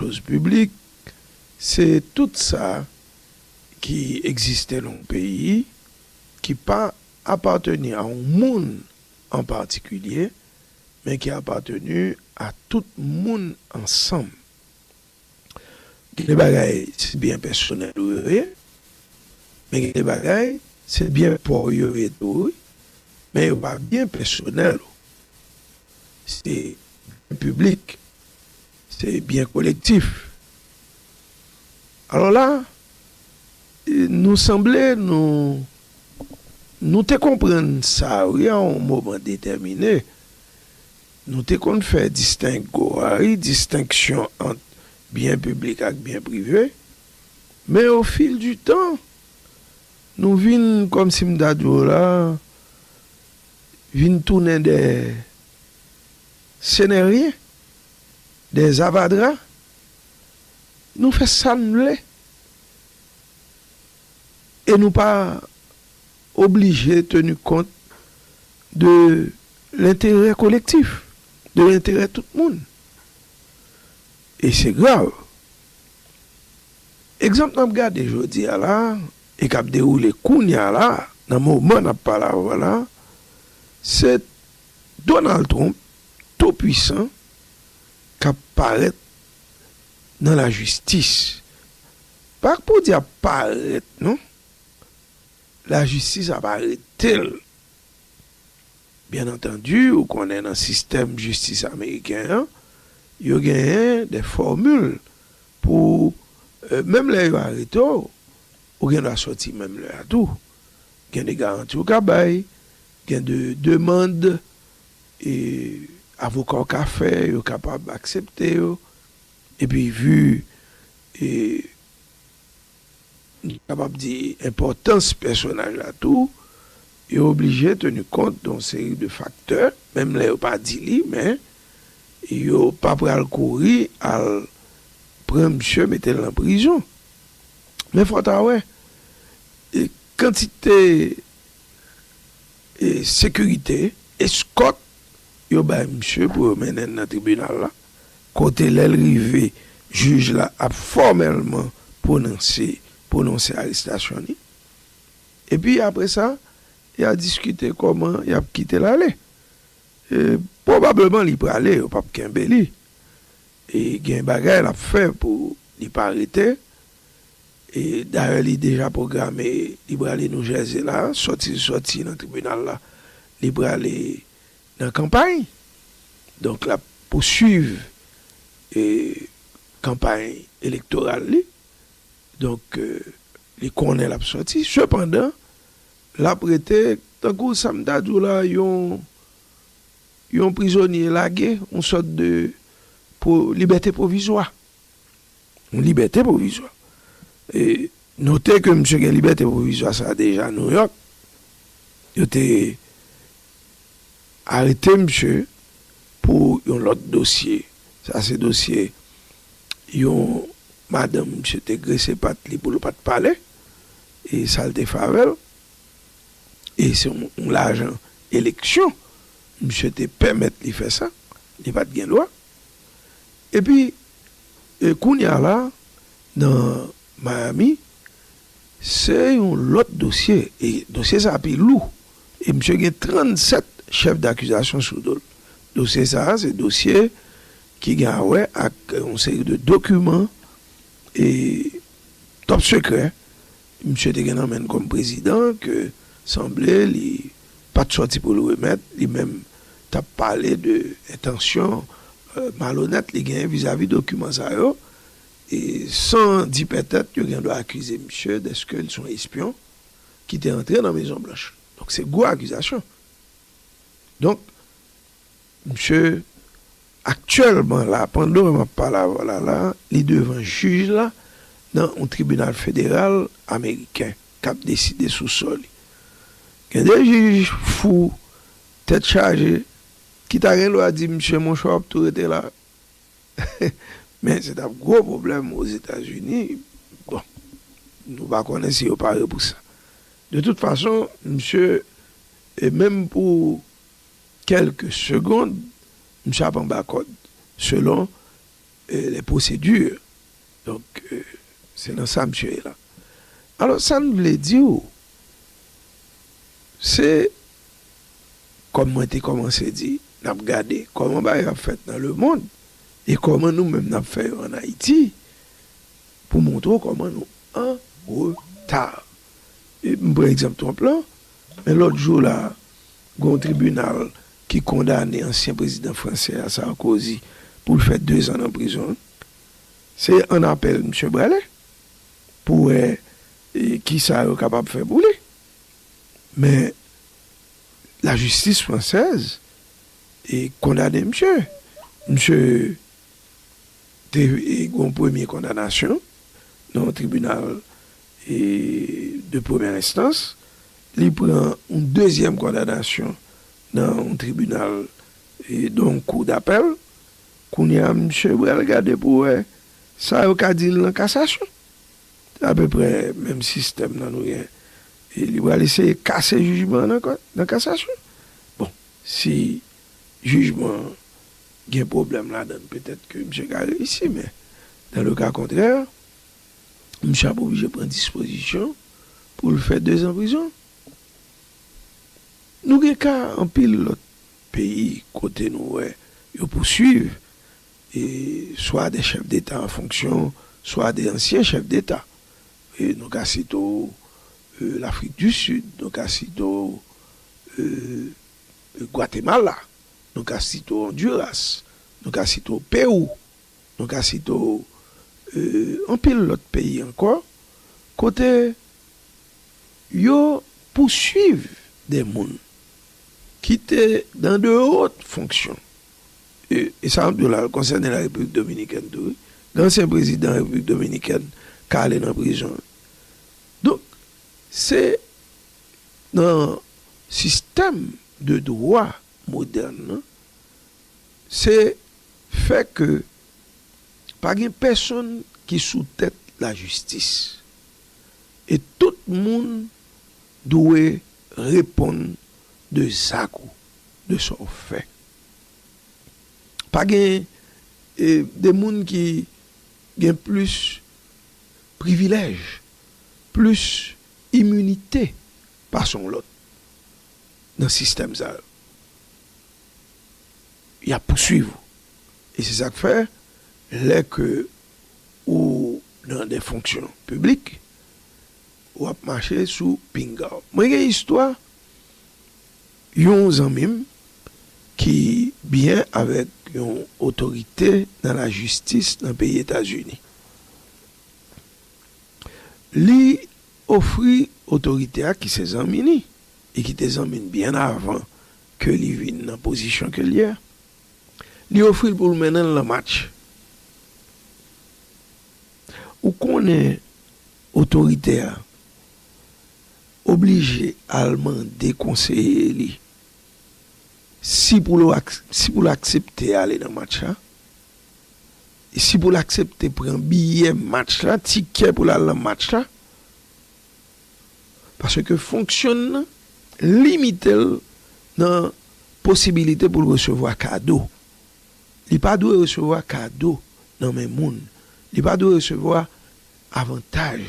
Dòz piblik, se tout sa ki egziste nan yon peyi ki pa apateni a yon moun an patikilye, men ki apateni a tout moun ansanm. Gen de bagay se byen pèsonèl ou yo ye, men gen de bagay se byen pa w yo ye tou wi, men yo pa byen pèsonèl ou, se byen piblik Se byen kolektif. Alò la, nou sanble nou, nou te konprann sa wi a yon moman detèmine. Nou te konn fè distengo a wi, distenksyon ant byen piblik ak byen prive. Men o fil di tan, nou vin, kòm si m ta di w la, vin tounen dèyè. Ce n'est rien des avadra nou fè sa n vle e nou pa oblije tenu kont de l'interêt collectif de l'interêt tout moun e se grav ekzanp nap gade jodi a la e kap dewoule kounya la nan moman nap pale avw la se Donald Trump tou pwisan kap parèt nan la jistis pa pou di ap parèt non la jistis ap aretel byen antandi ou konnen nan sistèm jistis ameriken an yo genyen de fòmil pou menm lè yo arete w ou gen dwa sòti menm lè a tou Gen de garanti ou ka bay, gen de demand avoka w ka fè, yo kapab aksepte yo, epi vi m kapab di enpòtans pèsonaj la tou, yo oblije teni kont don seri de faktè, menm lè yo pa di li, men yo pa pral kouri al pran misye mete l nan prizon. Men fò ta wè kantite sekirite, eskòt, yo bay misye pou yo mennen l nan tribinal la, kote lè l rive jij la ap fòmèlman pwononse pwononse arestasyon li. Epi apre sa, y a diskite kòman y ap kite l ale. Pwobableman li prale, yo p ap kenbe li. E gen bagay l ap fè pou li pa rete. E dayè li deja pwograme li prale Nou Jèze la, sòti l sòti nan tribinal la li prale nan kanpay. Donk l ap pousuiv kanpay elektoral li. Donk li konnen l ap sòti. Sepandan l ap rete tankou sa m ta di w la yon Yon prizonye lage, yon sòt de libète pwovizwa. Yon libète pwovizwa. E note ke misye gen libète pwovizwa sa a deja Nouyòk. Yo te arete misye pou yon lòt dosye. Sa se dosye yon madanm misye te grese pat li pou l pa t pale e sa l te fè avè l. e se yon lajan eleksyon misye te pèmèt li fè sa, li pat gen dwa epi kounya la nan Miami se yon lòt dosye e dosye sa pi lou e misye gen 37 chèf dakizasyon sou dol dosye sa se dosye ki gen a wè ak yon seri de dokiman e top sekrè Misye te gen nan menn kòm prezidan ke sanble li pat sòti pou l remèt, li menm t ap pale de entansyon malonèt li genyen vizavi dokiman sa yo, e san di pètèt yo gen dwa akize misye dèske l s on espyon ki te antre nan Mezon Blanch. Donk se gwo akizasyon. Donk Msye aktyèlman la, pandan map pale avè w la la, li devan jij la nan yon tribinal federal ameriken kap deside sou sò li. Gen de jij fou, tèt chaje, ki ta gen dwa di msye monchè w ap tou rete la. Men se tap gwo pwoblèm Ozetazini. Bon, nou pa konnen si yo pare pou sa. De tout fason, msye, e menm pou Kèlke segond misye ap anba kòd selon les procédures donk se nan sa misye ye la alò sa m vle di w se kòm mwen te kòmanse di n ap gade kòman bagay yo ap fèt nan lemond e kòman nou menm n ap fè yo an Ayiti pou montre w kòman nou an reta. m pran egzanp Trump lan, men lòt jou la a, gen yon tribinal ki kondane ansyen prezidan fransè a, Sarkozy, pou l fè dezan nan prizon. Se ann apèl misye prale pou wè ki sa yo kapab fè pou li. Men, lajistis fransèz kondane misye. Misye te gen yon premye kondanasyon nan yon tribinal de premyè enstans, li pran yon dezyèm kondanasyon nan yon tribinal, nan yon kou dapèl. Kounye a, misye pral gade pou wè sa yo ka di l nan kasasyon. Se apeprè menm sistèm nan nou gen. Li pral eseye kase jijman an nan kasasyon. Bon, si jijman an gen pwoblèm ladan l, petèt ke misye ka reyisi, men, dan le ka kontrè, Misye ap oblije pran dispozisyon pou l fè dezan prizon. Nou gen ka anpil lòt peyi kote nou wè yo pousuiv swa de chèf deta an fonksyon, swa de ansyen chèf deta. Nou ka site w Lafrik di Sid, nou ka site w Gwatemala, nou ka site w Ondiras, nou ka site w Pewou, Nou ka site w anpil lòt peyi ankò kote yo pouswiv de moun ki te dan de ot fonksyon, e sa anpil la konsène la Repiblik Dominikèn tou wi, dansyen prezidan Repiblik Dominikèn ka ale nan prizon. Donk se nan sistèm de dwa. modèn lan, se fè ke pa gen pèsonn ki sou tèt lajistis, e tout moun dwe reponn de zak ou, de sa w fè. Pa gen de moun ki gen plis privilèj, plis iminite Pa son w lòt nan sistèm sa yo. Y ap pouswiv ou. E se sa k fè lè ke ou nan de fonksyon piblik, w ap mache sou pinga w. Mwen gen istwa yon zanmi m ki byen avèk yon otorite nan lajistis nan peyi Etazini. Li Ofri otorite a ki se zanmi li e ki te zanmi n byen avan ke li vin nan pozisyon ke l ye a. Li ofri l pou l mennen l nan match. Ou konnen otorite a oblije al mande konseye li si pou l aksepte ale nan match la Si pou l aksepte pran biyè match la, tikè pou l al nan match la, paske fonksyon n nan limite l nan posibilite pou l resevwa kado. Li pa dwe resevwa kado nan men moun. Li pa dwe resevwa avantaj.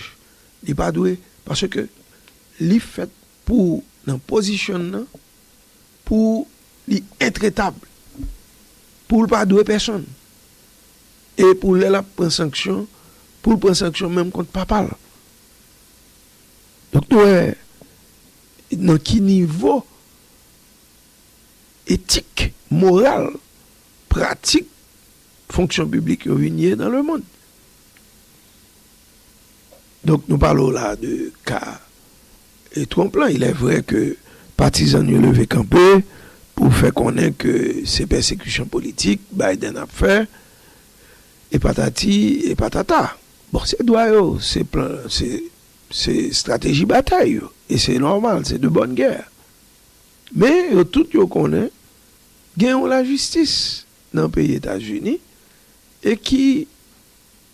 Li pa dwe, paske li fèt pou nan pozisyon n nan. Pou li entretab. Pou l pa dwe pèsonn. E pou lè l ap pran sanksyon, pou l pran sanksyon menm kont papa l. Donk nou wè nan ki nivo etik, moral, pratik fonksyon piblik yo vin ye nan lemonn. Donk nou pale w la de ka E Trump lan, ilèvrè ke patizan n yo leve kanpe pou fè konnen ke se pèsekisyon politik Biden ap fè, e patati e patata. Bon, se dwa yo, se plan, se estrateji batay yo, e se nòmal, se de bòn gè. Men, yo tout yo konnen gen yon lajistis nan peyi Etazini e ki.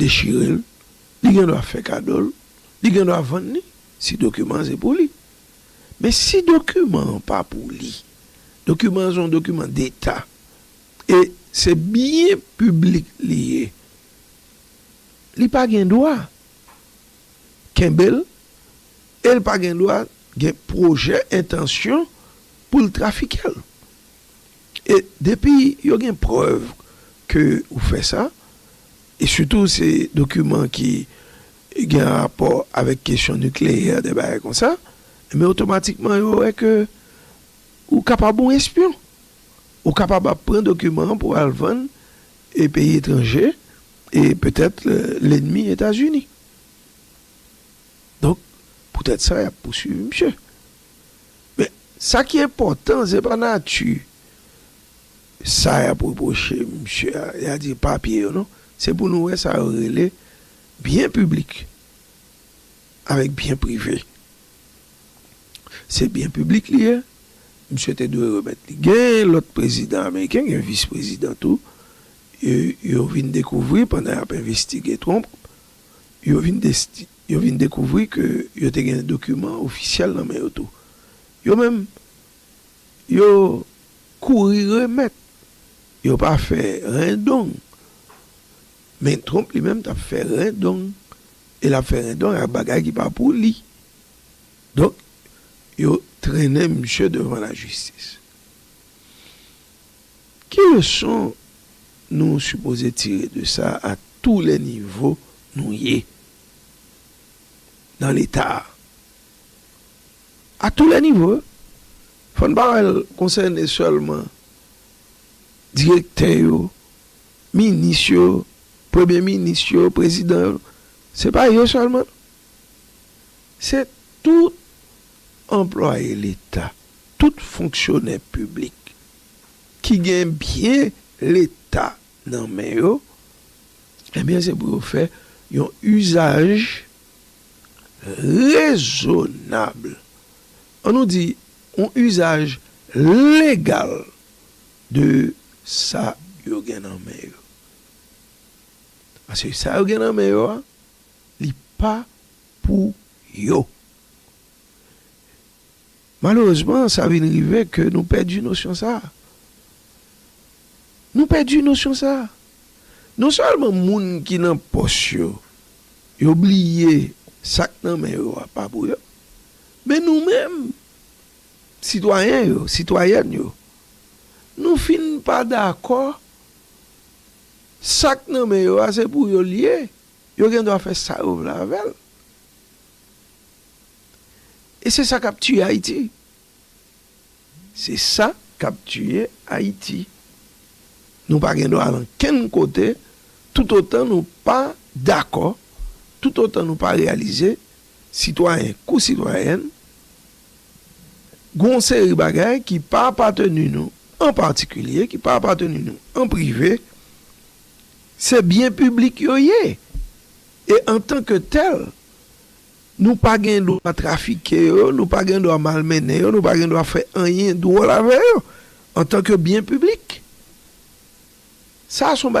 dechire l, li gen dwa fè kado l, li gen dwa vann li si dokiman an se pou li. Men si dokiman an pa pou li, dokiman an se yon dokiman deta e se byen piblik li ye, li pa gen dwa kenbe l e l pa gen dwa gen pwojè, entansyon pou l trafike l. E depi yo gen prèv ke ou fè sa, e sitou se dokiman ki gen rapò avèk kesyon nikleyè, de bagay konsa, enben otomatikman yo wè ke ou kapab yon espyon. Ou kapab ap pran dokiman an pou w al vann e peyi etranje e petèt lenmi Etazini. Donk, poutèt sa y ap pousuiv misye. Men, sa ki enpòtan, se pa nati sa y ap repwoche misye a, y a di papye yo non. Se pou nou wè sa yo rele byen piblik avèk byen prive. Se byen piblik li ye, misye te dwe remèt li. Gen lòt prezidan ameriken, gen vis prezidan tou, yo vin dekouvri pandan y ap envestige Trump, yo vin Yo vin dekouvri ke yo te gen dokiman ofisyèl nan men yo tou. Yo menm, yo kouri remèt. Yo pa fè ren dong. Men Trump li menm t ap fè ren dong. E l ap fè ren dong ak bagay ki pa pou li. Donk, yo trennen misye devan lajistis. Ki leson nou sipoze tire de sa a tou lè nivo nou ye nan Leta a? A tou lè nivo, fò n pa wè l konsène sèlman direktè yo, minis yo, premye minis yo, prezidan yo. Se pa yo sèlman non. Se tout anplwaye Leta, tout fonksyonè piblik. ki gen byen leta nan men yo, ebyen se pou yo fè yon uzaj rezonab, an nou di yon uzaj legal de sa yo gen nan men yo. Paske sa yo gen nan men yo a, li pa pou yo. Malerezman, sa vin rive ke nou pèdi nosyon sa a. Nou pèdi nosyon sa a. Non sèlman moun ki nan pòs yo, yo bliye sa k nan men yo a pa pou yo, men nou menm, sitwayen yo, sitwayèn yo, nou fin pa dakò sa k nan men yo a se pou yo l ye, yo gen dwa fè sa yo vle avè l. E se sa kap tiye Ayiti. Se sa kap tiye Ayiti. Nou pa gen dwa al ankenn kote tout otan nou pa dakò, tout otan nou pa reyalize, sitwayen kou sitwayèn, gon seri bagay ki pa apateni nou an patikilye, ki pa apateni nou an prive, se byen piblik yo ye. E antan ke tèl, Nou pa gen dwa trafike yo, nou pa gen dwa malmennen yo, nou pa gen dwa fè anyen dwòl avè yo antanke byen piblik. Sa a se yon bagay.